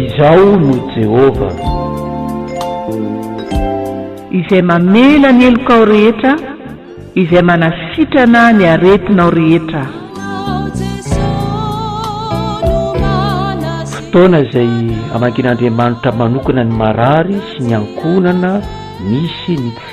Izao no Jehovah, Izay mamela ny helokao rehetra, Izay manasitrana ny aretinao rehetra. Ianao Jesosy no manasitrana. Fotoana izay amangian'Andriamanitra manokana ny marary sy ny ankohonana misy ny tsy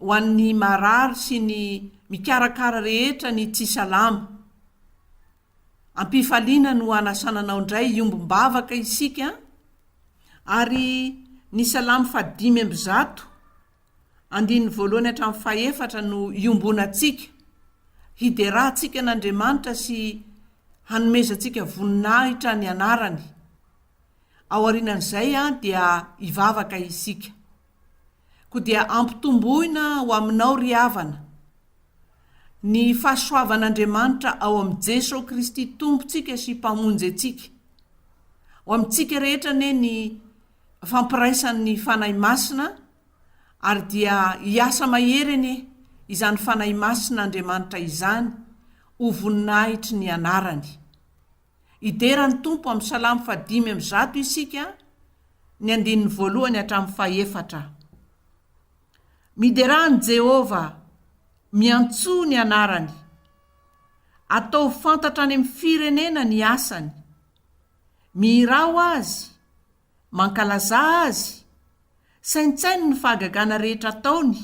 ho an'ny marary sy ny mikarakara rehetra ny tsy salama. Am-pifaliana no hanasana anao indray hiombom-bavaka isika ary ny salamo fahadimy amby zato andininy voalohany hatramin'ny fahefatra no iombonantsika, hiderahantsika an'Andriamanitra sy hanomezantsika voninahitra ny anarany. Aorianan'izay dia hivavaka isika. ko dia ampitomboina ho aminao ry havana ny fahasoavan'Andriamanitra ao amin'i Jeso Kristy Tompontsika sy Mpamonjy antsika. Ho amintsika rehetra anie ny fampiraisan'ny Fanahy Masina ary dia hiasa mahery anie izany Fanahy Masin'Andriamanitra izany ho voninahitry ny anarany. Hidera ny Tompo amin'ny Salamo faha dimy amby zato isika, ny andininy voalohany hatramin'ny fahefatra. Miderà an'i Jehovah, miantsoa ny anarany. Ataovy fantatra any amin'ny firenena ny asany. Mihirà ho azy, mankalazà azy. Saintsaino ny fahagagana rehetra ataony.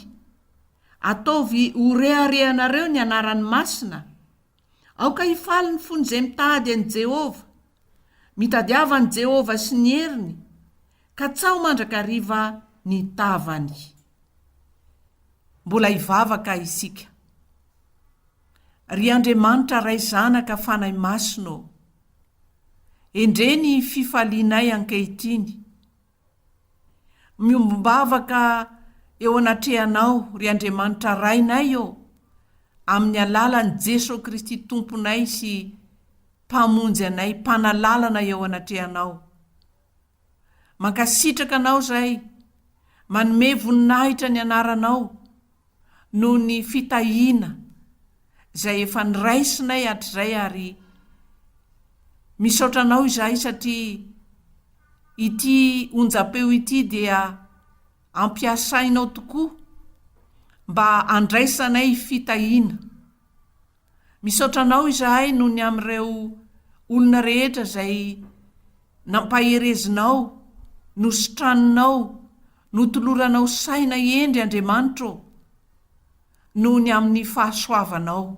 Ataovy ho reharehanareo ny anarany masina, Aoka hifaly ny fon'izay mitady an'i Jehovah, mitadiava an'i Jehovah sy ny heriny, katsaho mandrakariva ny tavany. Mbola hivavaka isika. Ry Andriamanitra Ray Zanaka Fanahy Masina ô, endrey ny fifalianay ankehitriny. Miombom-bavaka eo anatrehanao, ry Andriamanitra Rainay ô, amin'ny alalan'i Jesoa Kristy Tomponay sy Mpamonjy anay, Mpanalalana eo anatrehanao. Mankasitraka Anao izay, manome voninahitra ny Anaranao. noho ny fitahiana izay efa noraisinay hatrizay ary misaotra anao izahay satria ity onjam-peo ity dia ampiasainao tokoa mba handraisanay fitahiana Misaotra anao izahay noho ny amin'ireo olona rehetra izay nampaherezinao, nositraninao, notoloranao saina hendry Andriamanitra ô! noho ny amin'ny fahasoavanao.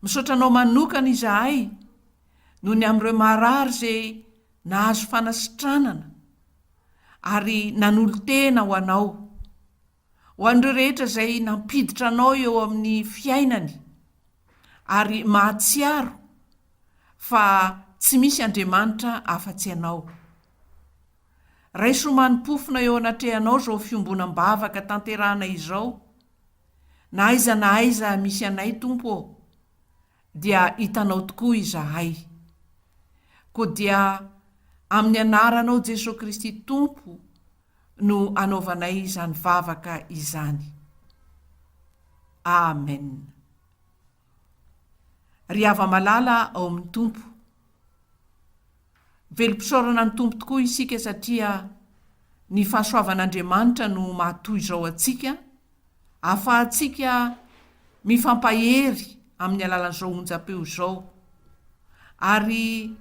Misaotra anao manokana izahay noho ny amin'ireo marary izay nahazo fanasitranana ary nanolo-tena ho anao. Ho an'ireo rehetra izay nampiditra anao eo amin'ny fiainany ary mahatsiaro fa tsy misy Andriamanitra afa-tsy ianao. Raiso mani-pofona eo anatrehanao izao fiombonam-bavaka tanterahana izao, Na aiza na aiza misy anay Tompo ô, dia hitanao tokoa izahay. Koa dia amin'ny anaranao Jesoa Kristy Tompo no anaovanay izany vavaka izany. Amen. Ry hava-malala ao amin'ny Tompo, velom-pisaorana ny Tompo tokoa isika satria ny fahasoavan'Andriamanitra no mahatoy izao antsika, ahafahantsika mifampahery amin'ny alalan'izao onjam-peo izao. Ary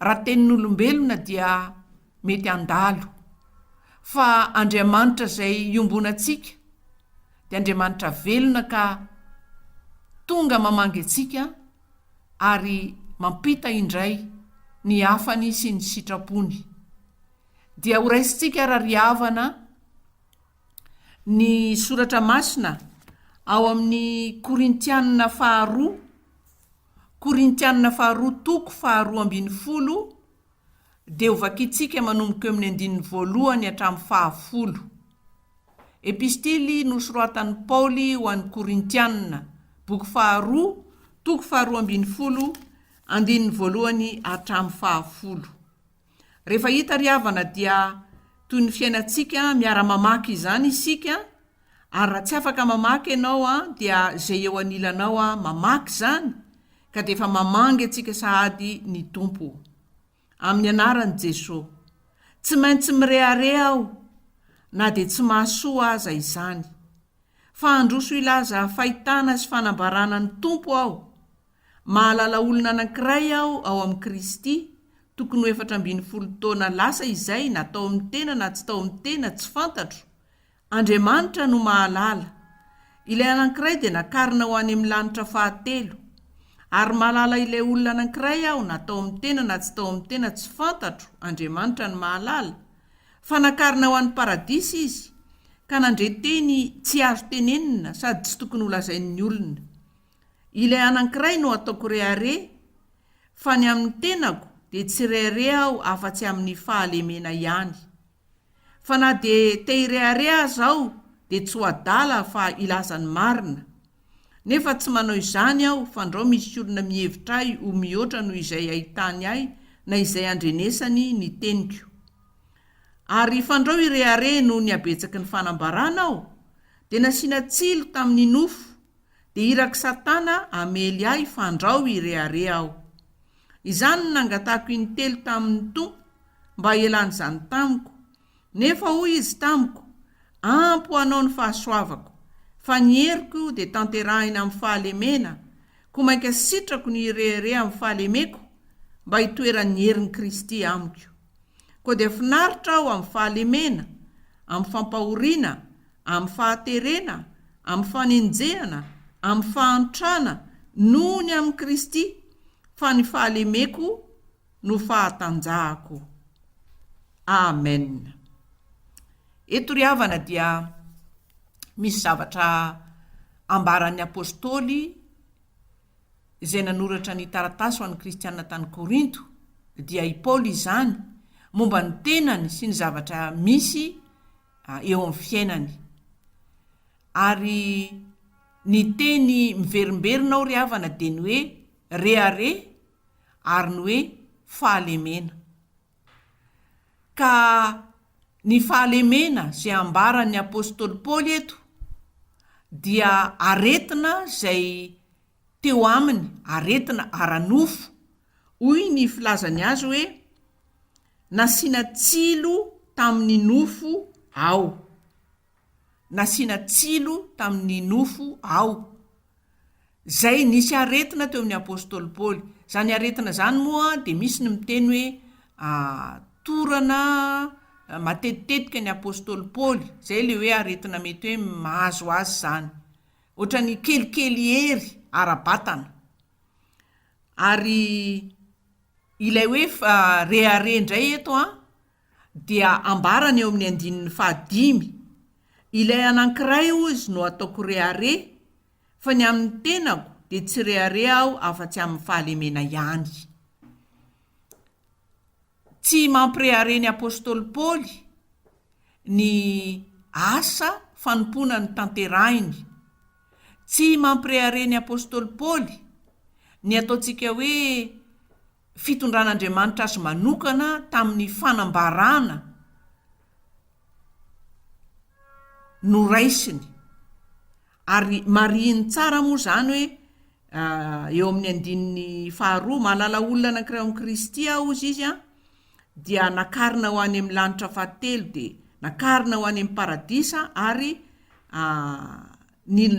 raha tenin'olombelona dia mety handalo, fa Andriamanitra izay iombonantsika dia Andriamanitra velona ka tonga mamangy antsika ary mampita indray ny hafany sy ny sitrapony. Dia horaisintsika arariavana ny soratra masina ao amin'ny Korintianina faharoa, Korintianina faharoa toko faharoa ambin'ny folo dia ho vakintsika manomboka eo amin'ny andininy voalohany hatramin'ny fahafolo. Epistily nosoratan'i Paoly ho an'ny Korintianina, boky faharoa, toko faharoa ambin'ny folo, andininy voalohany hatramin'ny fahafolo. Rehefa hita ry havana dia toy ny fiainantsika miara-mamaky izany isika, Ary raha tsy afaka mamaky ianao an dia izay eo anilanao an mamaky izany ka dia efa mamangy antsika sahady ny Tompo o! Amin'ny anaran'i Jeso! Tsy maintsy mirehareha aho na dia tsy mahasoa aza izany. Fa handroso hilaza fahitana sy fanambarana ny Tompo aho. Mahalala olona anankiray aho ao amin'i Kristy, tokony ho efatra ambin'ny folo taona lasa izay na tao amin'ny tena na tsy tao amin'ny tena tsy fantatro, Andriamanitra no mahalala. Ilay anankiray dia nakarina ho any amin'ny lanitra fahatelo. Ary mahalala ilay olona anankiray aho na tao amin'ny tena na tsy tao amin'ny tena tsy fantatro, Andriamanitra no mahalala, fa nakarina ho any paradisa izy, ka nandre teny tsy azo tenenina sady tsy tokony holazain'ny olona. Ilay anankiray no ataoko rehareha, fa ny amin'ny tenako dia tsy rehareha aho afa-tsy amin'ny fahalemena ihany. Fa na dia te hirehareha aza aho dia tsy ho adala fa hilaza ny marina. Nefa tsy manao izany aho fandrao misy olona mihevitra ahy ho mihoatra noho izay hahitany ahy na izay handrenesany ny teniko. Ary fandrao hirehareha noho ny habetsaky ny fanambarana aho dia nasiana tsilo tamin'ny nofo dia irak'i Satana hamely ahy fandrao hirehareha aho. Izany no nangatahako in-telo tamin' ny Tompo mba hialany izany tamiko. Nefa hoy Izy tamiko, Ampy ho anao ny fahasoavako, fa ny heriko dia tanterahina amin' ny fahalemena, koa mainka sitrako ny hirehareha amin' ny fahalemeko, mba hitoeran' ny herin' Kristy amiko. Koa dia finaritra aho amin'ny fahalemena, amin'ny fampahoriana, amin'ny fahaterena, amin'ny fanenjehana, amin'ny fahantrana, noho ny amin'i Kristy, fa ny fahalemeko no fahatanjahako. Amena. Eto ry havana dia misy zavatra ambaran'ny apostoly izay nanoratra ny taratasy ho an'ny Kristianina tany Korinto, dia i Paoly izany, momba ny tenany sy ny zavatra misy eo amin'ny fiainany. Ary ny teny miverimberina ao ry havana dia ny hoe rehareha ary ny hoe fahalemena. Ka ny fahalemena izay ambaran'ny apostoly Paoly eto dia aretina izay teo aminy, aretina ara-nofo. Hoy ny filazany azy hoe, Nasiana tsilo tamin'ny nofo aho. nasiana tsilo tamin'ny nofo ao. Izay nisy aretina teo amin'ny apostoly Paoly. Izany aretina izany moa dia misy ny miteny hoe torana matetitetika ny apostoly Paoly. Izay ilay hoe aretina mety hoe mahazo azy izany. Ohatran'ny kelikely hery ara-batana. Ary ilay hoe rehareha indray eto an, dia ambarany eo amin'ny andininy fahadimy, Ilay anankiray, hozy, no ataoko rehareha, fa ny amin'ny tenako dia tsy rehareha aho afa-tsy amin'ny fahalemena ihany. Tsy mampirehareha ny apostoly Paoly ny asa fanompoana notanterahiny. Tsy mampirehareha ny apostoly Paoly ny ataontsika hoe fitondran'Andriamanitra azy manokana tamin'ny fanambarana noraisiny. Ary marihiny tsara moa izany hoe eo amin'ny andininy faharoa, Mahalala olona anankiray ao amin'i Kristy aho, hozy izy, dia nakarina ho any amin'ny lanitra fahatelo, dia nakarina ho any amin'ny paradisa ary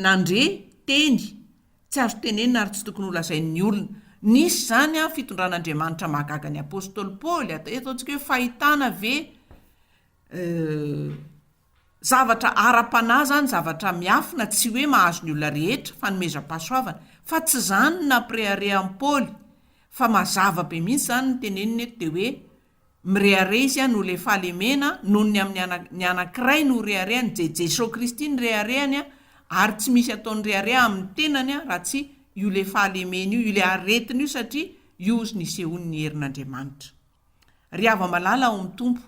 nandre teny Tsy azo tenenina ary tsy tokony holazain'ny olona. Nisy izany amin'ny fitondran'Andriamanitra mahagaga ny apostoly Paoly. Ataontsika hoe fahitana ve zavatra ara-panahy izany, zavatra miafina, tsy hoe mahazo ny olona rehetra, fanomezam-pahasoavana. Fa tsy izany no nampireharehan'i Paoly fa mazava be mihitsy izany ny teneniny eto dia hoe Mirehareha izy an o le fahalemena noho ny amin'ny ana ny anankiray no reharehany je Jeso Kristy ny reharehany an ary tsy misy ataony rehareha amin'ny tenany an raha tsy io le fahalemena io io le aretiny io satria io ozy nisehoany ny herin'Andriamanitra. Ry hava-malala ao amin'ny Tompo,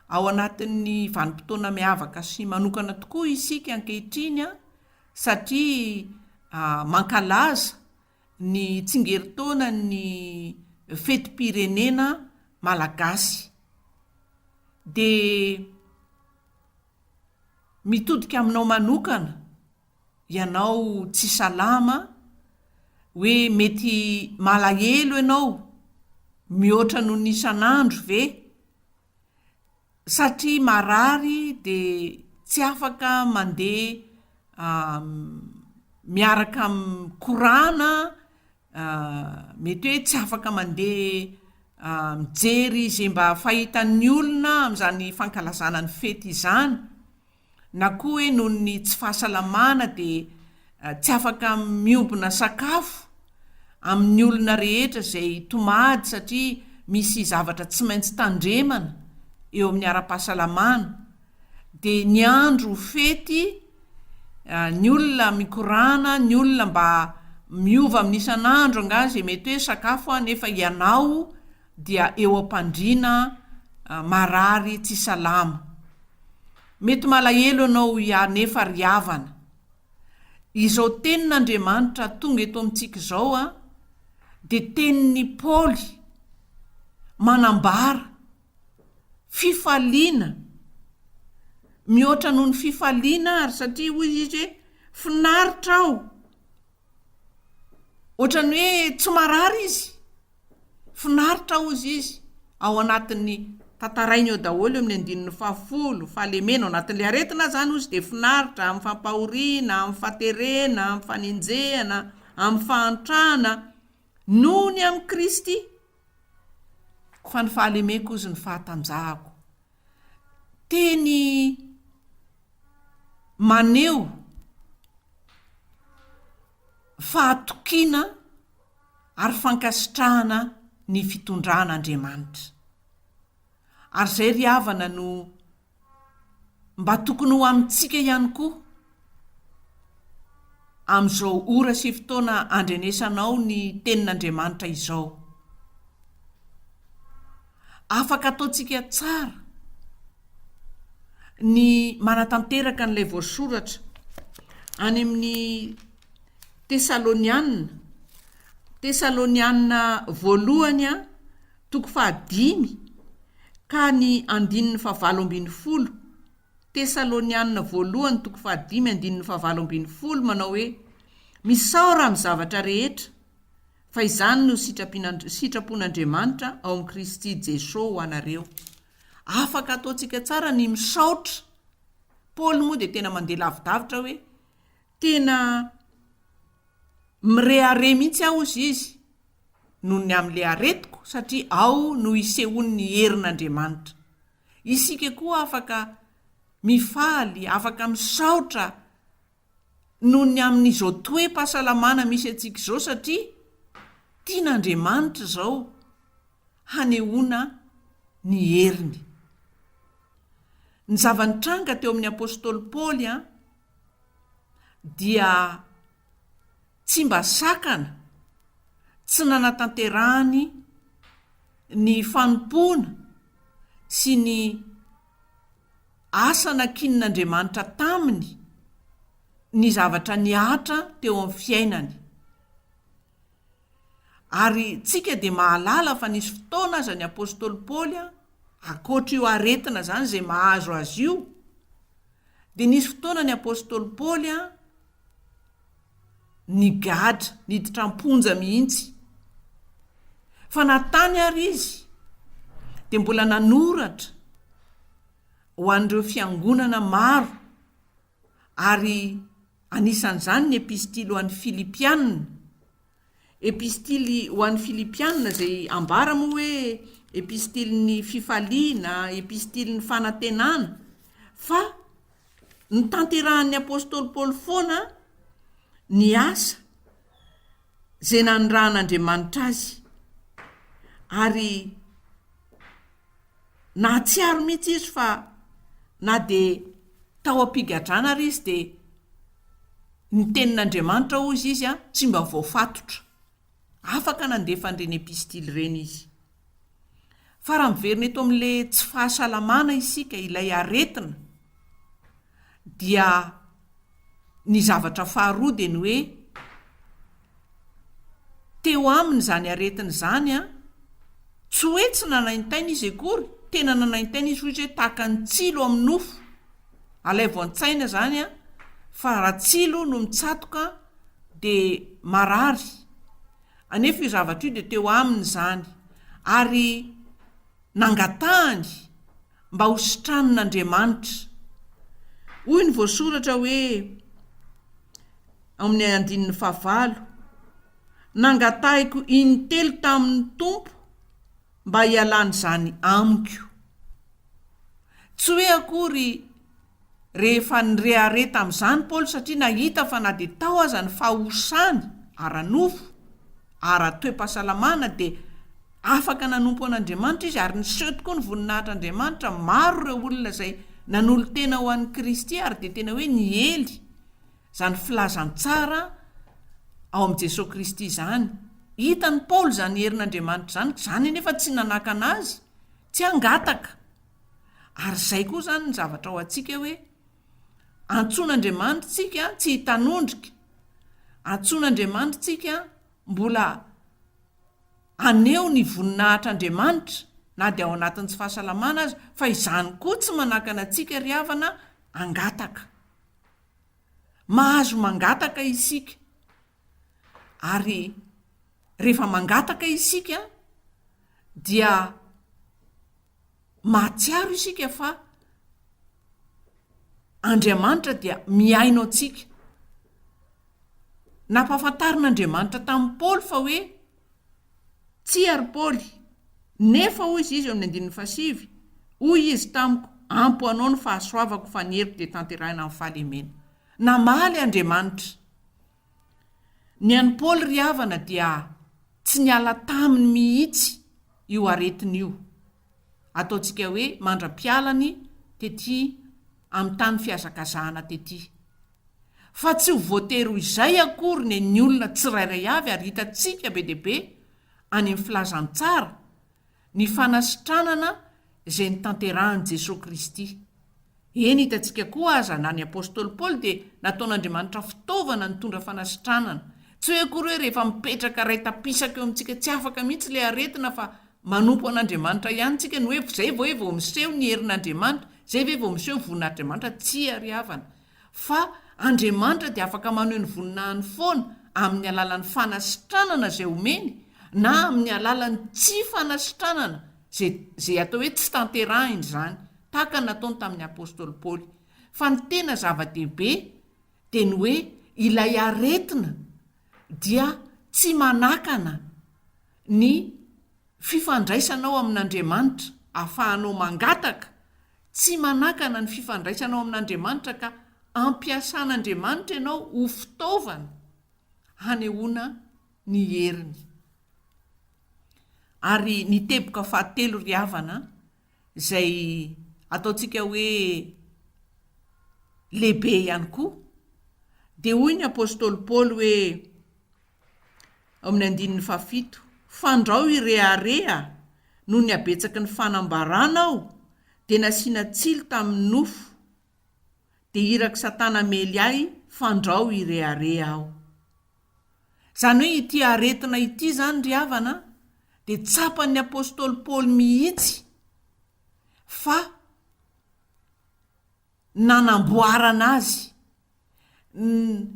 ao anatin'ny vanim-potoana miavaka sy manokana tokoa isika ankehitriny an satria a mankalaza ny tsingerin-taonan'ny fetim-pirenena malagasy dia mitodika aminao manokana ianao tsy salama hoe mety malahelo ianao mihoatra noho ny isan'andro ve? satria marary dia tsy afaka mandeha miaraka amin'ny korana, mety hoe tsy afaka mandeha mijery izay mba fahitan'ny olona amin'izany fankalazana ny fety izany. na koa hoe noho ny tsy fahasalamana dia tsy afaka miombona sakafo amin'ny olona rehetra izay tomady satria misy zavatra tsy maintsy tandremana eo amin'ny ara-pahasalamana dia ny andro fety ny olona mikorana ny olona mba miova amin'ny isan'andro angaha izay mety hoe sakafo aho nefa ianao dia eo am-pandriana marary tsy salama. Mety malahelo ianao hiary nefa ry havana, izao tenin'Andriamanitra tonga eto amintsika izao dia tenin'i Paoly manambara fifaliana mihoatra noho ny fifaliana ary satria hoy izy hoe finaritra aho. Ohatran'ny hoe tsy marary izy. Finaritra hozy izy ao anatin'ny tantarainy eo daholo eo amin'ny andininy fahafolo, fahalemena ao anatin'ilay aretina aza any hozy dia finaritra amin'ny fampahoriana, amin'ny faterena, amin'ny fanenjehana, amin'ny fahantrana noho ny amin'i Kristy. Fa ny fahalemeko hozy ny fahatanjahako. teny maneho fahatokiana ary fankasitrahana ny fitondran' Andriamanitra. Ary izay ry havana no mba tokony ho amintsika ihany koa Amin'izao ora sy fotoana andrenesanao ny Tenin'Andriamanitra izao, afaka ataontsika tsara ny manatanteraka an'ilay voasoratra any amin'ny Tesalonianina, Tesalonianina Voalohany a, toko fahadimy ka ny andininy fahavalo ambin'ny folo, Tesalonianina Voalohany toko fahadimy andininy fahavalo ambin'ny folo manao hoe, Misaora amin'ny zavatra rehetra, fa izany no sitrapon'Andriamanitra ao amin'i Kristy Jesoa ho anareo. Afaka ataontsika tsara ny misaotra. Paoly moa dia tena mandeha lavidavitra hoe, Tena mirehareha mihitsy aho, hozy izy, noho ny amin'ilay aretiko, satria ao no isehoan'ny herin'Andriamanitra. Isika koa afaka mifaly, afaka misaotra noho ny amin'izao toe-pahasalamana misy antsika izao satria tian'Andriamanitra izao hanehoana ny heriny. Ny zava-nitranga teo amin'ny apostoly Paoly dia tsy mba sakana tsy nanatanterahany ny fanompoana sy ny asa nankinin'Andriamanitra taminy ny zavatra nihatra teo amin'ny fiainany. Ary tsika dia mahalala fa nisy fotoana aza ny apostoly Paoly a, akoatra io aretina zany zay mahazo azy io, dia nisy fotoana ny apostoly Paoly a, nigadra, niditra am-ponja mihitsy. Fa na tany ary izy dia mbola nanoratra ho an'ireo fiangonana maro. ary anisan'izany ny Epistily ho an'ny Filipianina. Epistily ho an'ny Filipianina, izay ambara moa hoe epistilin'ny fifaliana, epistilin'ny fanantenana, fa notanterahan'ny apostoly Paoly foana ny asa izay nanirahan'Andriamanitra azy, ary Nahatsiaro mihitsy izy fa na dia tao am-pigadrana ary izy dia ny Tenin'Andriamanitra, hozy izy, tsy mba voafatotra. Afaka nandefa an'ireny epistily ireny izy. Fa raha miverina eto amin'ilay tsy fahasalamana isika, ilay aretina, dia ny zavatra faharoa dia ny hoe, teo aminy izany aretiny izany an! Tsy hoe tsy nanaintaina izy akory, tena nanaintaina izy hoy izy hoe tahaka ny tsilo amin'ny nofo. Alaivo an-tsaina izany an, fa raha tsilo no mitsatoka dia marary. Anefa io zavatra io dia teo aminy izany ary nangatahany. mba ho sitranin'Andriamanitra. Hoy ny voasoratra hoe ao amin'ny andininy fahavalo, Nangatahiko intelo tamin'ny Tompo mba hialana izany amiko. Tsy hoe akory Rehefa nirehareha tamin'izany Paoly satria nahita fa na dia tao aza ny fahosany ara-nofo, ara-toe-pahasalamana, dia afaka nanompo an'Andriamanitra izy, ary niseho tokoa ny voninahitr'Andriamanitra. Maro ireo olona izay nanolo-tena ho an'i Kristy ary dia tena hoe niely izany filazantsara ao amin'i Jesoa Kristy izany. Hitan'i Paoly izany herin'Andriamanitra izany, izany anefa tsy nanakana azy tsy hangataka Ary izay koa izany ny zavatra ao antsika hoe, antsoina Andriamanitra tsika tsy hitanondrika, antsoina Andriamanitra tsika mbola haneho ny voninahitr'Andriamanitra na dia ao anatin'ny tsy fahasalamana aza, fa izany koa tsy manakana antsika ry havana hangataka. Mahazo mangataka isika, ary rehefa mangataka isika dia. mahatsiaro isika fa Andriamanitra dia mihaino antsika. Nampahafantarin'Andriamanitra tamin'i Paoly fa hoe, Tsia, ry Paoly, nefa hoy izy, izy eo amin'ny andininy fahasivy, hoy izy tamiko, Ampy ho anao ny fahasoavako, fa ny heriko dia tanterahina amin'ny fahalemena. Namaly Andriamanitra. Ny an'i Paoly ry havana dia tsy niala taminy mihitsy io aretiny io, ataontsika hoe mandra-pialany tety amin'ny tany fihazakazahana tety. Fa tsy ho voatery ho izay akory ny an'ny olona tsirairay avy ary hitantsika be dia be any amin'ny filazantsara ny fanasitranana izay notanterahin'i Jesoa Kristy. Eny, hitantsika koa aza, na ny apostoly Paoly dia nataon'Andriamanitra fitaovana nitondra fanasitranana. Tsy hoe akory hoe rehefa mipetraka iray tapisaka eo amintsika tsy afaka mihitsy ilay aretina fa manompo an'Andriamanitra ihany tsika no hoe izay ve vao miseho ny herin'Andriamanitra, izay ve vao miseho ny vonin'Adriamanitra, tsia ry havana. fa Andriamanitra dia afaka maneho ny voninahiny foana amin'ny alalan'ny fanasitranana izay omeny na amin'ny alalan'ny tsy fanasitranana izay izay atao hoe tsy tanterahiny izany, tahaka ny nataony tamin'ny apostoly Paoly. Fa ny tena zava-dehibe dia ny hoe ilay aretina dia tsy manakana ny fifandraisanao amin'Andriamanitra, ahafahanao mangataka, tsy manakana ny fifandraisanao amin'Andriamanitra ka ampiasan'Andriamanitra ianao ho fitaovana hanehoana ny heriny. Ary ny teboka fahatelo ry havana izay ataontsika hoe lehibe ihany koa dia hoy ny apostoly Paoly hoe ao amin'ny andininy fahafito, Fandrao i rehareha noho ny habetsaky ny fanambarana aho dia nasiana tsilo tamin'ny nofo, dia irak'i Satana hamely ahy, Fandrao i rehareha aho. Izany hoe ity aretina ity izany ry havana dia tsapan'ny apostoly Paoly mihitsy fa nanamboarana azy, ny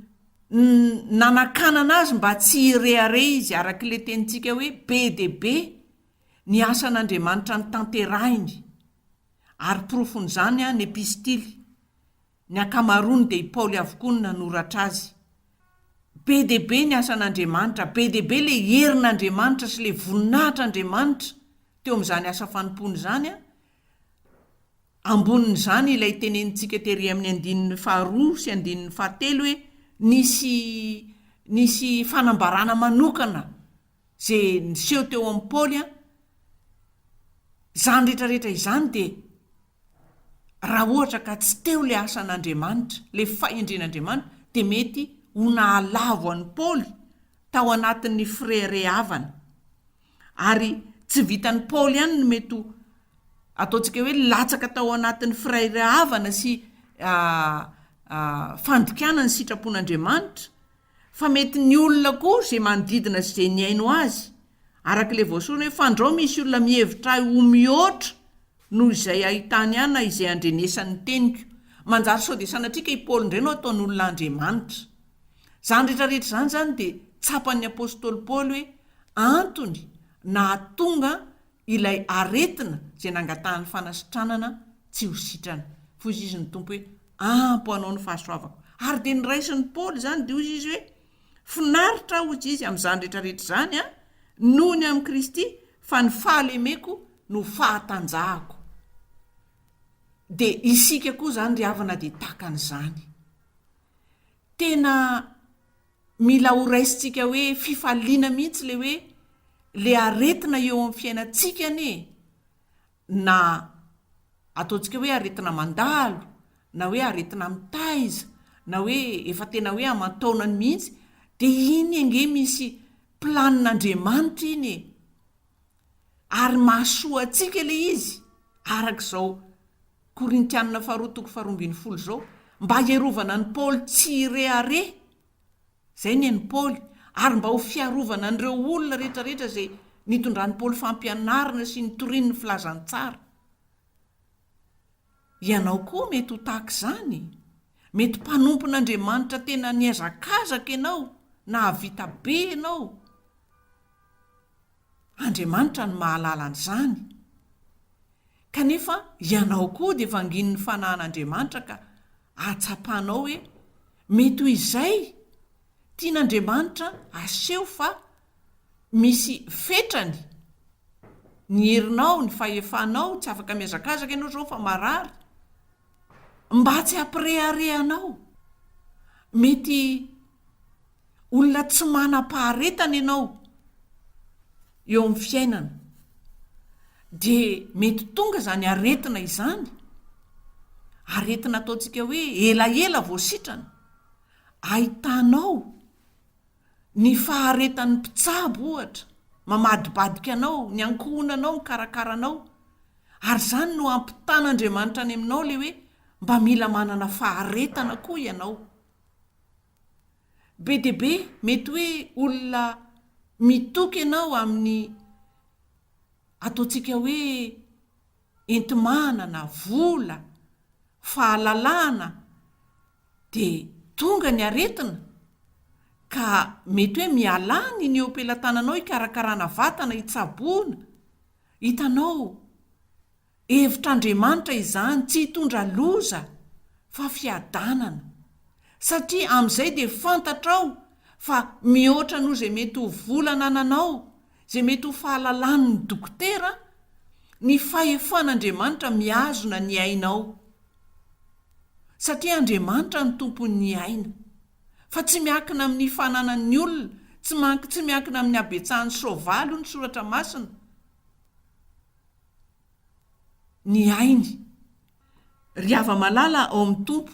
nanakanana azy mba tsy hirehareha izy, araka ilay tenintsika hoe be dia be ny asan'Andriamanitra notanterahiny, ary porofon'izany ny epistily, ny ankamaroany dia i Paoly avokoa no nanoratra azy. Be dia be ny asan'Andriamanitra, be dia be ilay herin'Andriamanitra sy ilay voninahitr'Andriamanitra teo amin'izany asa fanompoana izany, Ambonin'izany ilay tenenintsika tery amin'ny andininy faharoa sy andininy fahatelo hoe nisy nisy fanambarana manokana izay niseho teo amin'i Paoly an, izany rehetrarehetra izany dia raha ohatra ka tsy teo ilay asan'Andriamanitra, ilay fahendren'Andriamanitra dia mety ho nahalavo an'i Paoly tao anatin'ny fireharehavana. Ary tsy vitan'i Paoly ihany ny mety ho, ataontsika hoe, latsaka tao anatin'ny firahirahavana sy fandikana ny sitrapon'Andriamanitra, fa mety ny olona koa izay manodidina sy izay nihaino azy. Araka ilay voasoratra hoe, Fandrao misy olona mihevitra ahy ho mihoatra noho izay ahitany ahy na izay andrenesan'ny teniko. Manjary sao dia sanatriaka i Paoly indray no ataon'olona andriamanitra. Izany rehetrarehetra izany izany dia tsapan'ny apostoly Paoly hoe antony nahatonga ilay aretina izay nangatahan'ny fanasitranana tsy ho sitrana. Fa hoy izy ny Tompo hoe, Ampo anao ny fahasoavako. Ary dia noraisin'i Paoly izany, dia hoy izy hoe, Finaritra aho, hoy izy, amin'izany rehetrarehetra izany, an, noho ny amin'i Kristy, fa ny fahalemeko no fahatanjahako. Dia isika koa izany ry havana dia tahaka an'izany. tena mila ho raisintsika hoe fifaliana mihitsy le hoe le aretina eo amin'ny fiainantsika anie e! na ataontsika hoe aretina mandalo na hoe aretina mitaiza na hoe efa tena hoe aman-taonany mihitsy dia iny ange misy planin'Andriamanitra iny e! ary mahasoa antsika le izy araka izao Korintianina faharoa toko faharoa ambin'ny folo izao, mba hierovana an'i Paoly tsy hirehareha, izay ny an'i Paoly, ary mba ho fiarovana an'ireo olona rehetrarehetra izay nitondran'i Paoly fampianarana sy nitoriany ny filazantsara. Ianao koa mety ho tahaka izany. Mety mpanompon'Andriamanitra tena nihazakazaka ianao, nahavita be ianao, Andriamanitra no mahalala an'izany. Kanefa ianao koa dia vanginin'ny fanahin'Andriamanitra ka ahatsapanao hoe mety ho izay tian'Andriamanitra aseho fa misy fetrany ny herinao, ny fahefanao, tsy afaka mihazakazaka ianao izao fa marary. Mba tsy hampirehareha anao, mety Olona tsy manam-paharetana ianao eo amin'ny fiainana, dia mety tonga izany aretina izany, aretina ataontsika hoe elaela vao sitrana, ahitanao ny faharetan'ny mpitsabo ohatra, mamadibadika anao, ny ankohonanao mikarakara anao, ary izany no hampitan'Andriamanitra any aminao ilay hoe mba mila manana faharetana koa ianao. be dia be mety hoe olona mitoky ianao amin'ny ataontsika hoe enti-manana, vola, fahalalana dia tonga ny aretina ka mety hoe mialà ny ny eo am-pelatananao hikarakarana vatana, hitsaboana, hitanao. Hevitr'Andriamanitra izany tsy hitondra loza fa fiadanana, satria amin'izay dia fantatrao fa mihoatra noho izay mety ho vola anananao, izay mety ho fahalalan'ny dokotera, ny fahefan'Andriamanitra mihazona ny ainao. Satria Andriamanitra no tompon'ny aina. Fa tsy miankina amin'ny fananan'ny olona, tsy mank-tsy miankina amin'ny habetsahan'ny soavaly hoy ny Soratra Masina. ny ainy. Ry hava-malala ao amin'ny Tompo,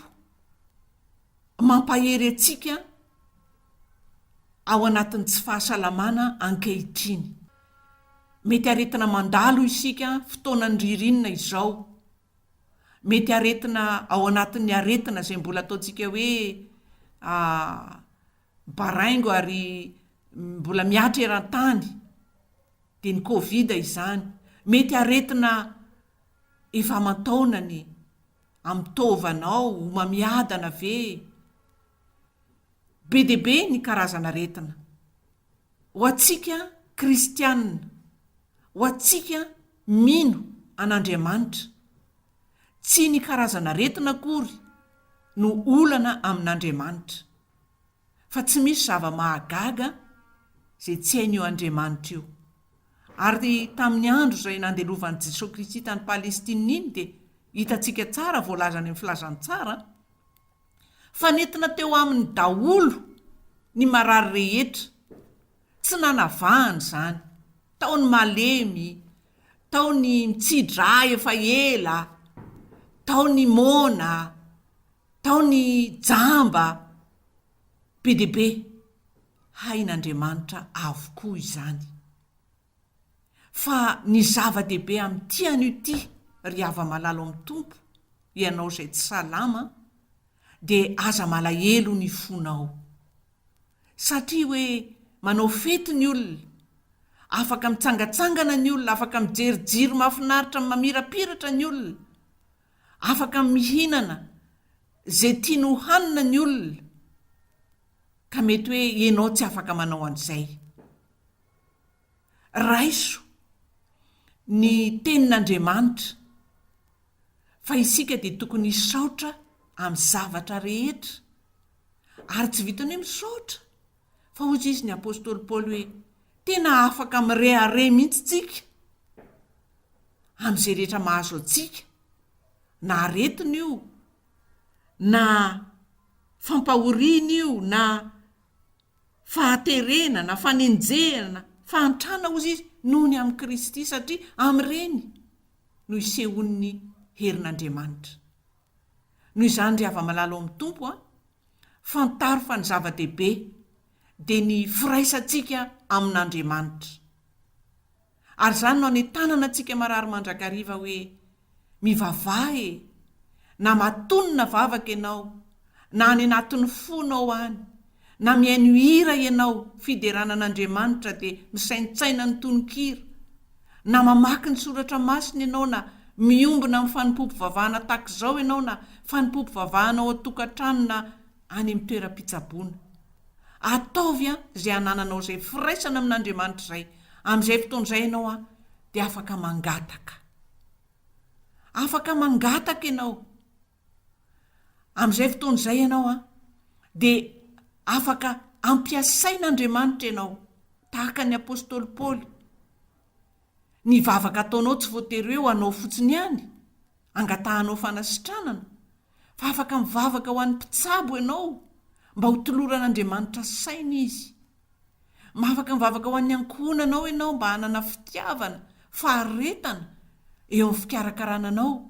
mampahery antsika ao anatin'ny tsy fahasalamana ankehitriny. Mety aretina mandalo isika fotoanan'ny ririnina izao. Mety aretina ao anatin'ny aretina izay mbola ataontsika hoe Baraingo ary mbola mihatra eran-tany dia ny covid izany. Mety aretina efa aman-taonany amin'ny taovanao, homamiadana ve? Be dia be ny karazan'aretina. Ho antsika kristianina, ho antsika mino an'Andriamanitra, tsy ny karazan'aretina akory no olana amin'Andriamanitra. fa tsy misy zava-mahagaga izay tsy hain'io Andriamanitra io. Ary tamin'ny andro izay nandelovan'i Jesoa Kristy tany Palestina iny dia hitantsika tsara, voalaza any amin'ny Filazantsara, fa nentina teo aminy daholo ny marary rehetra, tsy nanavahany izany, tao ny malemy, tao ny mitsi-drà efa ela, tao ny moana, Tao ny jamba be dia be, hain'Andriamanitra avokoa izany. Fa ny zava-dehibe amin'ity anio ity, ry hava-malalo amin'ny Tompo, ianao izay tsy salama, dia aza malahelo ny fonao. Satria hoe manao fety ny olona, afaka mitsangatsangana ny olona, afaka mijery jiro mahafinaritra mamirapiratra ny olona, Afaka mihinana izay tiany ho hanina ny olona, ka mety hoe ianao tsy afaka manao an'izay. Raiso ny Tenin'Andriamanitra fa isika dia tokony hisaotra amin'ny zavatra rehetra, ary tsy vitan'ny hoe misaotra. Fa hoy izy ny apostoly Paoly hoe, Tena afaka mirehareha mihitsy tsika amin'izay rehetra mahazo antsika, na aretina io, na fampahoriana io, na fahaterena, na fanenjehana, fahantrana, hoy izy, noho ny amin'i Kristy, satria amin'ireny no isehoan'ny herin'Andriamanitra. Noho izany ry hava-malala ao amin'ny Tompo a, fantaro fa ny zava-dehibe dia ny firaisantsika amin'Andriamanitra. Ary izany no anentanana antsika marary mandrakariva hoe, Mivavaha e! Na matonina vavaka ianao, na any anatin'ny fonao any, Na mihaino hira ianao fiderana an'Andriamanitra dia misaintsaina ny tononkira, na mamaky ny soratra masina ianao na miombona amin'ny fanompoam-pivavahana tahaka izao ianao na fanompoam-pivavahana ao an-tokantrano na any amin'ny toeram-pitsaboana. Ataovy izay anananao izay firaisana amin'Andriamanitra izay, amin'izay fotoana izay ianao an dia afaka mangataka. Afaka mangataka ianao. Amin'izay fotoana izay ianao an, dia afaka ampiasain'Andriamanitra ianao, tahaka ny apostoly Paoly. Ny vavaka ataonao tsy voatery hoe ho anao fotsiny ihany, angatahanao fanasitranana, fa afaka mivavaka ho an'ny mpitsabo ianao, mba hotoloran'Andriamanitra saina izy. Afaka mivavaka ho an'ny ankohonanao ianao mba hanana fitiavana, faharetana eo amin'ny fikarakarana anao,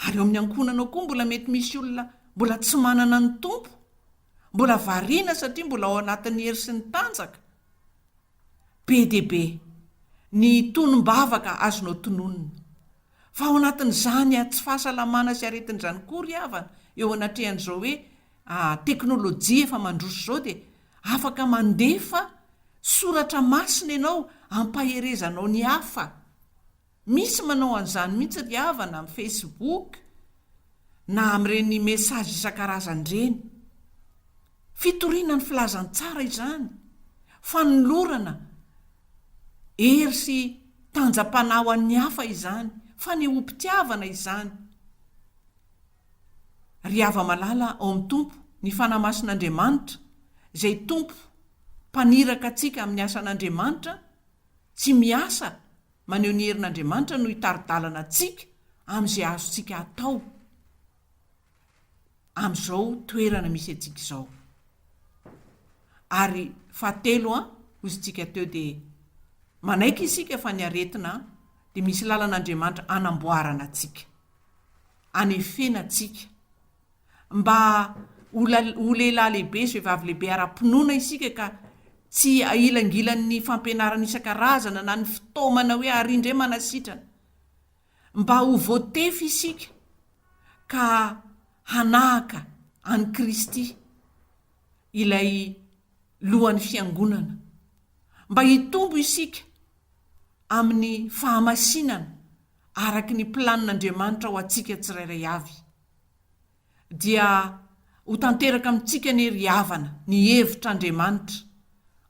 ary ao amin'ny ankohonanao koa mbola mety misy olona mbola tsy manana ny Tompo, mbola variana satria mbola ao anatin'ny hery sy ny tanjaka. Be dia be ny tonom-bavaka azonao tononina. Fa ao anatin'izany tsy fahasalamana sy aretin'izany koa ry havana eo anatrehan'izao hoe teknolojia efa mandroso izao dia afaka mandefa soratra masina ianao hampaherezanao ny hafa. Misy manao an'izany mihitsy ry havana amin'ny Facebook na amin'ireny message isan-karazany ireny. Fitoriana ny filazantsara izany, fanolorana hery sy tanjam-panahy ho an'ny hafa izany, fanehoam-pitiavana izany. Ry hava-malala ao amin'ny Tompo, ny Fanahy Masin'Andriamanitra, izay Tompo mpaniraka antsika amin'ny asan'Andriamanitra, tsy miasa, maneho ny herin'Andriamanitra no hitari-dalana antsika amin'izay azontsika atao amin'izao toerana misy antsika izao. Ary fahatelo an, hoy isika teo dia manaiky isika fa ny aretina an, dia misy lalan'Andriamanitra anamboarana antsika, anefena antsika. mba ho ho lehilahy lehibe sy vehivavy lehibe ara-pinoana isika ka tsy ailangilan'ny fampianarana isan-karazana na ny fitaomana hoe ary indray manasitrana. Mba ho voatefy isika ka hanahaka an'i Kristy, ilay lohan'ny fiangonana. Mba hitombo isika amin'ny fahamasinana araka ny planin'Andriamanitra ho antsika tsirairay avy. dia ho tanteraka amintsika anie ry havana ny hevitr' Andriamanitra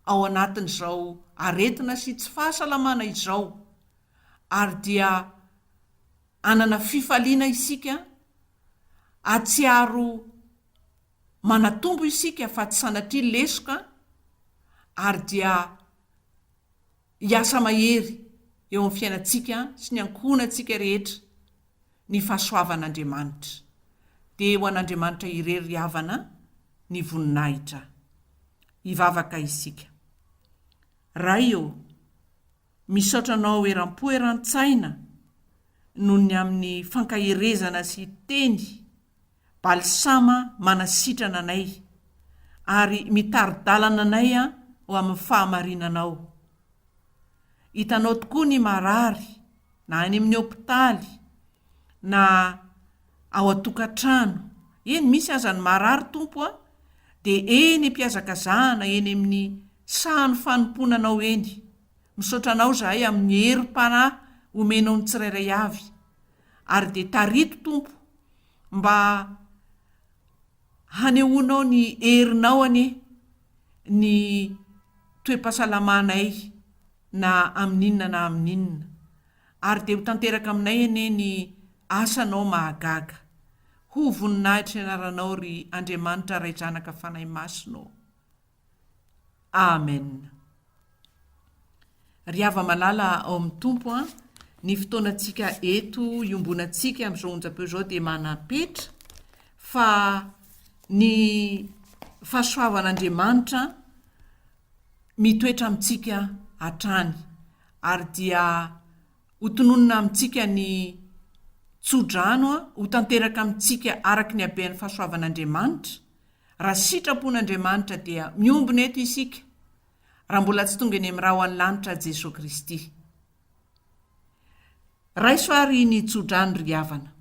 ao anatin' izao aretina sy tsy fahasalamana izao, ary dia hanana fifaliana isika, hahatsiaro manatombo isika fa tsy sanatria lesoka, ary dia Hiasa mahery eo amin'ny fiainantsika sy ny ankohonantsika rehetra ny fahasoavan'Andriamanitra. Dia ho an'Andriamanitra irery ry havana ny voninahitra. Hivavaka isika. Ray ô, misaotra Anao eram-po eran-tsaina noho ny amin'ny fankaherezana sy teny. Balsama manasitrana anay ary mitari-dalana anay ho amin'ny fahamarinanao. Hitanao tokoa ny marary na any amin'ny hopitaly na ao an-tokantrano. Eny misy aza ny marary Tompo a! dia eny am-pihazakazahana eny amin'ny sahan'ny fanompoana Anao eny. Misaotra Anao izahay amin'ny herim-panahy omenao ny tsirairay avy. ary dia tariako Tompo mba hanehoanao ny herinao anie ny toe-pahasalamanay na amin'inona na amin'inona ary dia ho tanteraka aminay anie ny asanao mahagaga Ho voninahitry ny anaranao ry Andriamanitra Ray Zanaka Fanahy Masina ô Amen. Ry hava-malala ao amin'ny Tompo an, ny fotoanantsika eto iombonantsika amin'izao onjam-peo izao dia manam-petra fa ny fahasoavan'Andriamanitra mitoetra amintsika hatrany ary dia ho tononina amintsika ny tso-drano an, ho tanteraka amintsika araka ny habehan'ny fahasoavan'Andriamanitra, Raha sitrapon'Andriamanitra dia miombona eto isika raha mbola tsy tonga eny amin'ny ra ho any lanitra Jesoa Kristy. Raiso ary ny tso-drano ry havana.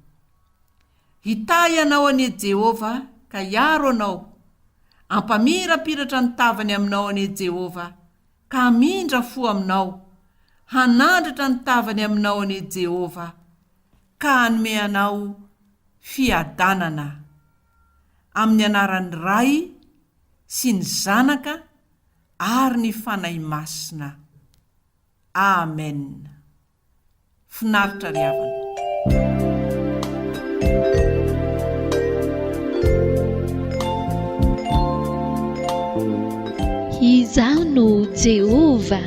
Hitahy anao anie Jehovah ka hiaro anao, hampamirapiratra ny tavany aminao anie Jehovah ka hamindra fo aminao, hanandratra ny tavany aminao anie Jehovah ka hanome anao fiadanana Amin'ny anaran'ny Ray sy ny Zanaka ary ny Fanahy Masina. Amen. Finaritra ry havana. Izaho no Jehovah.